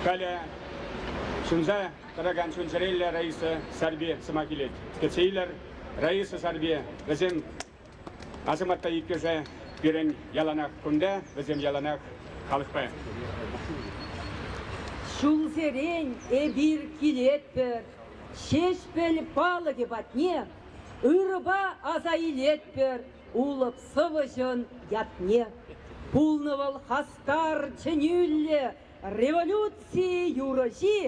Халӗ ҫунса тӑракан чун-чӗреллӗ Раиса Сарпи сӑмах илет. Кӗтсе илер, Раиса Сарпи вӗсем асамата иккӗшӗ пирӗн яланах кунта, вӗсем яланах халӑхпа. Ҫулсерен эпир килетпӗр, Ҫеҫпӗл палӑкӗ патне ырӑпа аса илетпӗр. Улӑп сӑвӑҫӑн ятне пулнӑ вӑл хастар чӗнӳллӗ революци юрӑҫи,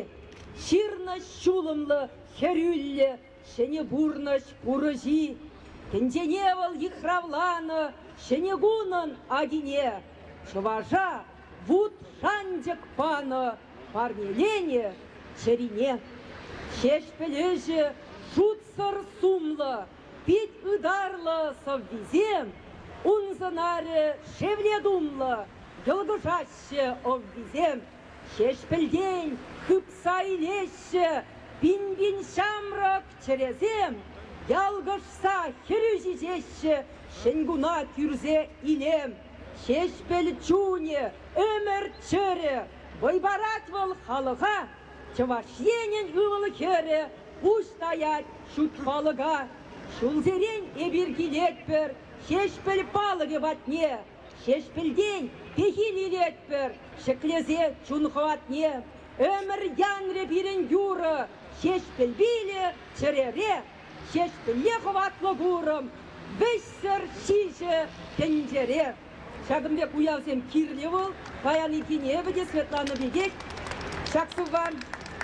ҫырнӑҫ ҫулӑмлӑ хӗрӳллӗ ҫӗнӗ пурнӑҫ курӑҫи. Тӗнчене вӑл йыхравланӑ ҫӗнӗ кунӑн акине чӑваша вут шанчӑк панӑ парнеленӗ чӗрине. Ҫеҫпӗл ӗҫӗ шутсӑр сумлӑ. Пит ытарлӑ сӑввисем ун сӑнарӗ шевле тумлӑ йӑлкӑшаҫҫӗ. Ӑввисем Ҫеҫпӗлтен хыпса илеҫҫӗ. Пин-пин ҫамрӑк чӗресем ялкӑшса хӗрӳ ҫиҫеҫҫӗ. Ҫӗнкуна кӳрсе илем Ҫеҫпӗл чунӗ, ӗмӗр чӗрӗ. Вӑй парать вӑл халӑха, Чӑваш Енӗн ывӑл-хӗрӗ Пуҫ таять ҫут палӑка. Ҫулсерен эпир килетпӗр Ҫеҫпӗл палӑкӗ патне. Ҫеҫпӗлтен пехил илетпӗр Ҫӗклесе чун хӑватне. Ӗмӗр янрӗ пирӗн юрӑ Ҫеҫпӗл пилӗ чӗрере. Ҫеҫпӗле хӑватлӑ курӑм Вӗҫсӗр ҫиҫӗ тӗнчере. Ҫакӑн пек уявсем кирлӗ вӑл. Паянхине эпӗ те Светлана пекех ҫак сувван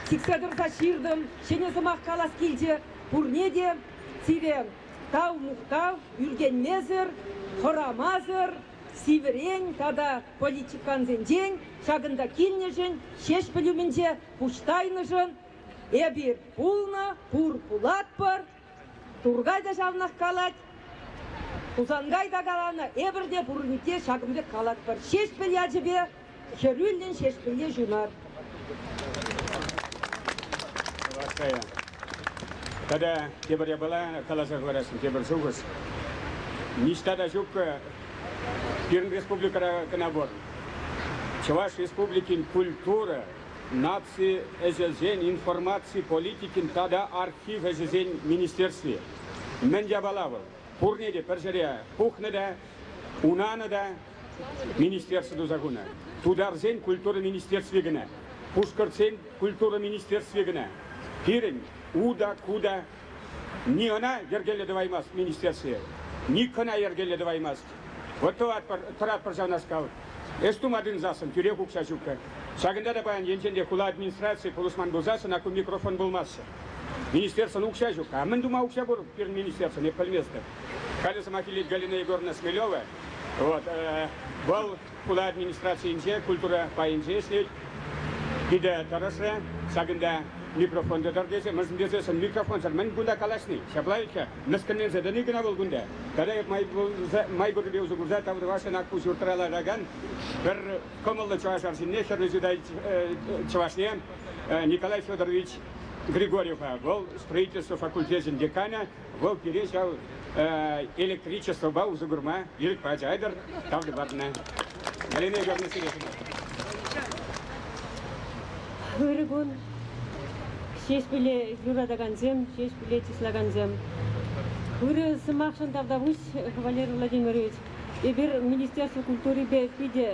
сиксе тӑрса ҫыртӑм. Ҫӗнӗ сӑмах калас килчӗ пурне те. Сивӗ тав-мухтав ӳркенмесӗр, хӑрамасӑр сивӗрен тата политикансенчен ҫакӑнта килнӗшӗн, Ҫеҫпӗл умӗнче пуҫ тайнӑшӑн эпир пулнӑ, пур пулатпӑр. Туркай та ҫавнах калать, Хусанкай та каланӑ, эпӗр те пурне те ҫакӑн пек калатпӑр. Ҫеҫпӗл ячӗпе хӗрӳллӗн Ҫеҫпӗле ҫунар. Ваская. Тата тепӗр япала каласа хӑварасшӑн, тепӗр шухӑш. Ниҫта та ҫуккӑ пирӗн республикӑра кӑна пур. Чӑваш Республикин культура наци ӗҫӗсен информаци политикин тата архив ӗҫӗсен министерстви. Мӗн япала вӑл? Пурне те пӗр ҫӗре пухнӑ та, унанӑ та министерство туса хунӑ. Тутарсен культура министерстви кӑна, пушкӑртсен культура министерстви кӑна. Пирӗн уда-куда Ни ӑна йӗркеллӗ тӑваймасть министерство, ни кӑна йӗркеллӗ тӑваймасть. Вот тӑватпӑр, тӑратпӑр ҫавнашкал. Эс тума тытӑнсассӑн тӳрех укҫа ҫуккӑр. Ҫакӑнта та паян енчен те хула администрацийӗ пулӑшман пулсан ӑна ку микрофон пулмаҫҫӗ. Министерствӑн укҫа ҫук. А мӗн тума укҫа пур пирӗн министерствӑн, эп пӗлместӗп. Халӗ сӑмах илет Галина Егоровна Смелева. Вот, э, вӑл Хула администрацийӗнче культура пайӗнче ӗҫлет. Питӗ тӑрӑшрӗ. Ҫакӑнта микрофон та тӑр тесе, мӗншӗн тесе сӑн микрофонсӑр мӗн кунта калаҫни. Ҫапла иккен, мӗскӗнленсе тӑни кӑна вӑл кунта. Пӗрре май пуррипе усӑ курса тав тӑвасшӑн Акку ҫуртра ларакан пӗр кӑмӑллӑ чӑваш арҫынне, хӗрлӗ чутай чӑвашне Николай Федорович Григорьева. Вӑл строительство факультечӗн деканӗ. Вӑл пире ҫав электричествӑпа усӑ курма ирӗк пачӗ тавлю патнӑ. Галина Георгиевна Сережина. Ырӑ кун. Ҫеҫпӗле юратакансем, Ҫеҫпӗле чыслакансем. Ырӑ сӑмахшӑн тавтапуҫ, Кавалер Владимирович. Эпир Министерство культурипе питӗ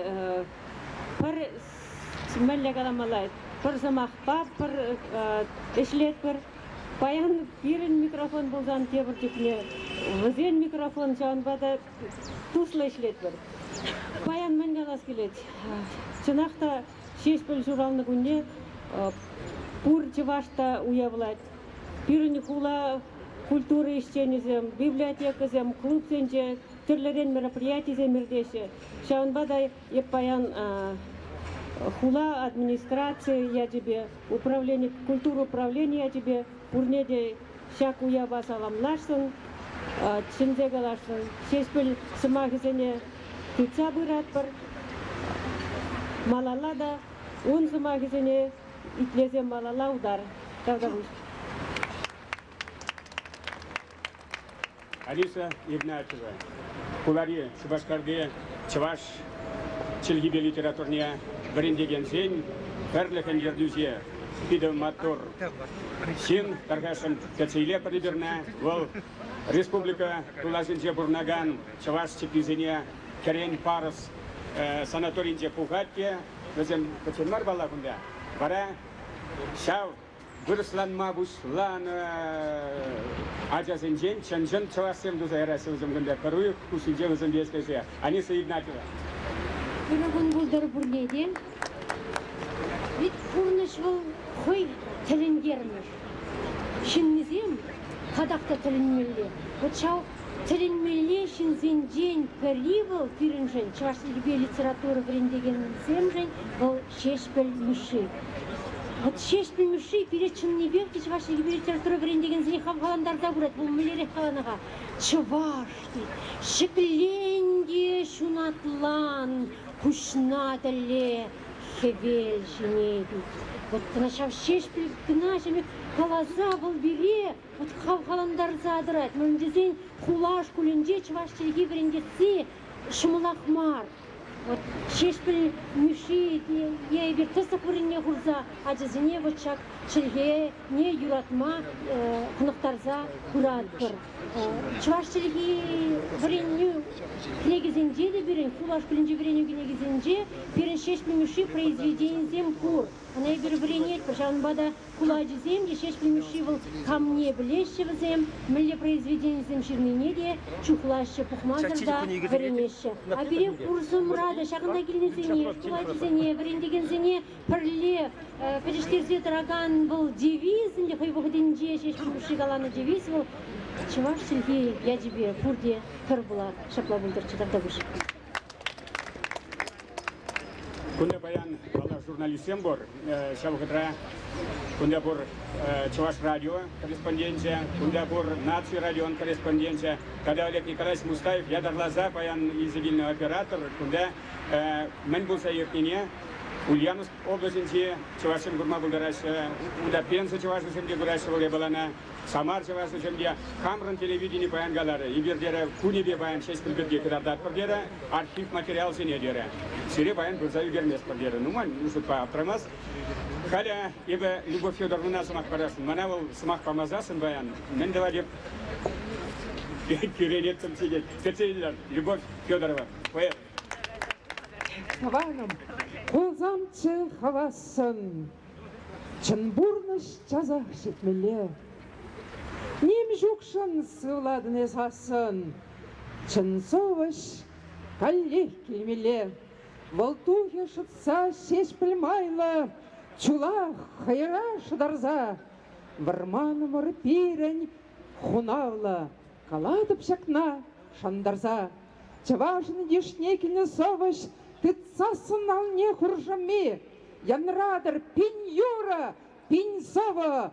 пӗр меллӗ каламалла, пӗр сӑмахпа пӗр ӗҫлетпӗр. Паян пирӗн микрофон пулсан тепӗр чухне вӗсен микрофон ҫавӑнпа та туслӑ ӗҫлетпӗр. Паян мӗн калас килет? Чӑнах та Ҫеҫпӗл ҫуралнӑ кунне пур чӑваш та уявлать. Пирӗн хула культура ӗҫченӗсем, библиотекӑсем, клубсенче тӗрлӗрен мероприятисем иртеҫҫӗ. Ҫавӑнпа та Эп паян хула администрацийӗ ячӗпе, управлени, культура управленийӗ ячӗпе пурне те ҫак уява саламласшӑн, чӗнсе каласшӑн, Ҫеҫпӗл сӑмахӗсене тытса пыратпӑр. Малалла та ун сӑмахӗсене итлесе малалла утар. Тавтапуҫ. Алиса Ирнатова хулари Шупашкарти чӑваш чӗлхипе литературне вӗрентекенсен пӗрлӗхӗн ертӳҫи питӗ маттур ҫын. Тархасшӑн кӗтсе пӗр ӳкернӗ. Вӑл республика тулашӗнче пурӑнакан чӑваш чӗпписене кӗрен парӑс санаторинче пухать те вӗсем пӗччен мар палла кунта. Вара ҫав вырӑсланма пуҫланӑ ачасенчен чӑн-чӑн чӑвашсем туса яраҫҫӗ вӗсем кунта пӗр уйӑх хушшинче вӗсемпе ӗҫлесе Аниса Игнатьева. Пирӗн кун пултӑр пурне те. Ведь пурнӑҫ вӑл хӑй тӗлӗнтермӗш. Ҫыннисем татах та тӗлӗнмелле. Вӑт ҫав тӗлӗнмелле ҫынсенчен пӗри вӑл пирӗншӗн, чӑваш чӗлхипе литература вӗрентекенсемшӗн, вӑл Ҫеҫпӗл Мишши. Вот Ҫеҫпӗл Мишши пире чӑннипех те чӑваш чӗлхипе литература вӗрентекенсене хавхалантарса пырать. Вӑл мӗнлерех каланӑ-ха? Чӑваш ҫӗкленӗ те ҫунатлан куҫна тӗле хӗвел ҫине тет. Вот кӑна ҫав Ҫеҫпӗл кӑна ҫӗмӗк каласа вӑл пире вот хавхалантарса тӑрать. Мӗн тесен хула шкулӗнче чӑваш чӗлхи вӗрентесси ҫӑмӑлах мар. Вот Ҫеҫпӗл Мишши те эпир тӑсӑк вырӑнне хурса ачасене вот ҫак чӗлхене юратма хӑнӑхтарса пыратпӑр. Чӑваш чӗлхи вӗренӳ кӗнекисенче те пирӗн шкул шкулӗнче вӗренӳ кӗнекисенче пирӗн Ҫеҫпӗл Мишши произведенисем пур. Ӑна эпир вӗренетпӗр, ҫавӑнпа та Кулачисем те, Ҫеҫпӗл Мишши вӑл камне пӗлеҫҫӗ вӗсем, мӗнле произведенисем ҫырнине те чухлаҫҫӗ, пухмасӑр та вӗренеҫҫӗ. А пире пурсӑмра та ҫакӑнта килнисене, кулачисене, вӗрентекенсене пӗрле пӗтӗҫтерсе тӑракан вӑл девиз ӗнтӗ хӑй вӑхӑтӗнче Ҫеҫпӗл Мишши каланӑ девиз вӑл чӑваш чӗлхи ячӗпе пурте пӗр пулар. Ҫапла пултӑрччӗ Тавтапуҫ. Кунта паян, паллах, журналистсем пур. Ҫав вӑхӑтра кунта пур Чӑваш радио корреспонденчӗ, кунта пур Наци радион корреспонденчӗ. Тата Олег Николаевич Мустаев ятарласа паян илсе килнӗ оператор кунта мӗн пулса иртнине Ульяновск облаҫӗнчи чӑвашсем курма пултараҫҫӗ. Унта пенсия чӑвашӗсем те кураҫҫӗ Вӑл япалана. Самар чӑвашӗсемпе хамӑрӑн телевидени паян каларӗ, эпир, терӗ, кунӗпе паян Ҫеҫпӗл пирки кӑтартатпӑр терӗ, архив материалсене, терӗ. Сире паян пырса ӳкерместпӗр терӗ. Нумай шутпа аптрамас. Халӗ эпӗ Любовь Федоровнана сӑмах парасшӑн. Мана вӑл сӑмах памасассӑн паян мӗн тӑвать эп? Кӳренеттӗм сире. Кӗтсе илер, Любовь Федорова, поэт. Хӑварӑм, Хусанчы хӑвассӑн. Чӑн пурнӑҫ часах ҫитмелле. Ним ҫукшӑн сывлатӑн эс ассӑн. Чӑн сӑвӑҫ каллех килмелле. Вӑл тухӗ шӑтса ҫеҫпӗл майлӑ, чула хӑйра шӑтарса. Вӑрманӑмӑр пирӗн хунавлӑ, калатӑп ҫакна шантарса. Чӑвашӑн йышне кӗнӗ сӑвӑҫ тытсассӑн алне хуршӑмми Янратӑр пин юрӑ, пин сӑвӑ,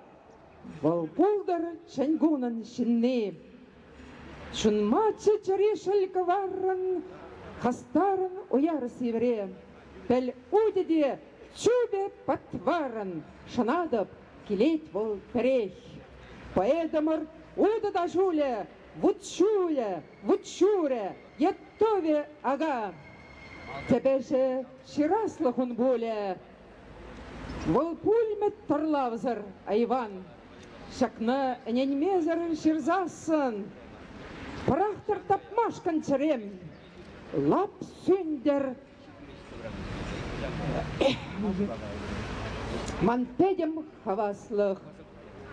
Вӑл пултӑр чӗнкунӑн ҫынни. Ҫунма чӗчӗри шӗл кӑваррӑн, Хастарӑн уяр сивӗре. Пӗл утӗ те чупӗ патварӑн, Шӑнатӑп, килет вӑл пӗрех. Поэтӑмӑр утӑ та ҫулӗ, Вут ҫулӗ, вут ҫурӗ, Готове, ага. Тебе же ҫыраслӑх ун пулӗ. Вӑл пулмӗ тӑрлавсӑр, айван. Ҫакна ӗненмесӗр ҫырсассӑн пӑрахтӑр тапмашкӑн чӗрем. Лап сӳнтӗр. Ман пӗтӗм хаваслӑх.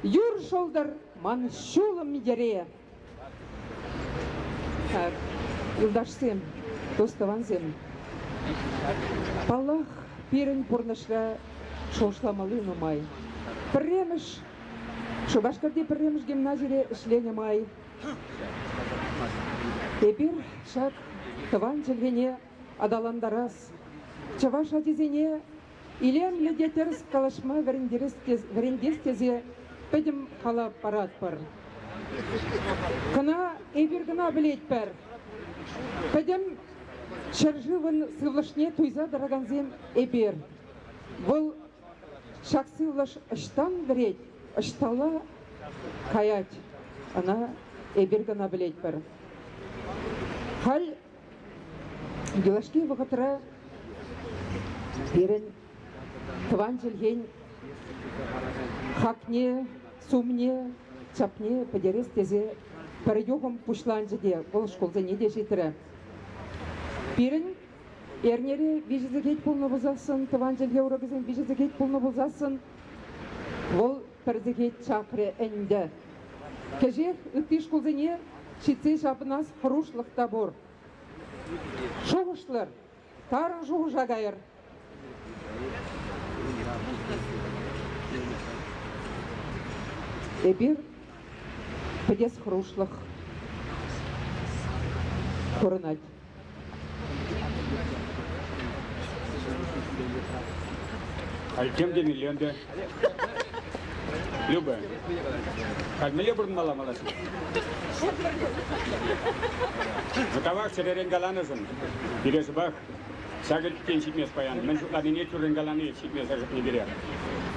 Юр шӑлтӑр ман ҫулӑм йӗре. юлташсем, тостӑвансем. Паллах, пирӗн пурнӑҫра шухӑшламалли нумай. Пӗрремӗш, Шупашкарти пӗрремӗш гимназире ӗҫленӗ май эпир ҫак тӑван чӗлхене аталантарас, чӑваш ачисене Илемлӗ те тӗрӗс калаҫма вӗрентес тесе пӗтӗм калав паратпӑр. Кӑна эпир кӑна пӗлетпӗр, пӗтӗм ҫӗршывӑн сывлӑшне туйса тӑракансем эпир. Вӑл ҫак сывлӑш ӑҫтан вӗрет, ӑҫталла каять, ӑна эпир кӑна пӗлетпӗр. Халь Юлашки вӑхӑтра пирӗн тӑван чӗлхен хакне, сумне, чапне пӗтерес тесе пӗр юхӑм пуҫланчӗ те, вӑл шкулсене те ҫитрӗ. Пирӗн эрнере виҫӗ сехет пулнӑ пулсассӑн, тӑван чӗлхе урокӗсем виҫӗ сехет пулнӑ пулсассӑн, вӑл пӗр сехет чакрӗ ӗнтӗ. Кӗҫех ытти шкулсене ҫитсе ҫапӑнас хӑрушлӑх та пур. Шухӑшлӑр, тарӑн шухӑша кайӑр. Эпир пӗтес хӑрушлӑх курӑнать. Халь тем темелле ӗнтӗ. Любэ, халь мӗнле пурӑнмалла малашне? Мытавах чӗререн каланӑшӑн пире шӑпах ҫакӑ тен ҫитмест паян. Мӗн шутланине тӳррӗн калани ҫитмесӗр пире.